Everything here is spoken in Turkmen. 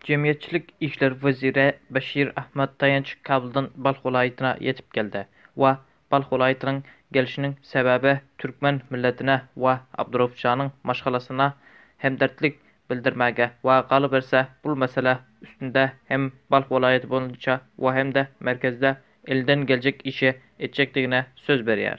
Jemgyýetçilik işler weziri Beşir Ahmad Taýanç Kabuldan Balh welaýatyna ýetip geldi we Balh welaýatynyň gelşiniň sebäbi türkmen milletine we Abdurauf janyň maşgalasyna hemderdlik bildirmäge we galyberse bul mesele üstünde hem Balh welaýaty boýunça we hem-de merkezde elinden geljek işi etjekdigine söz berýär.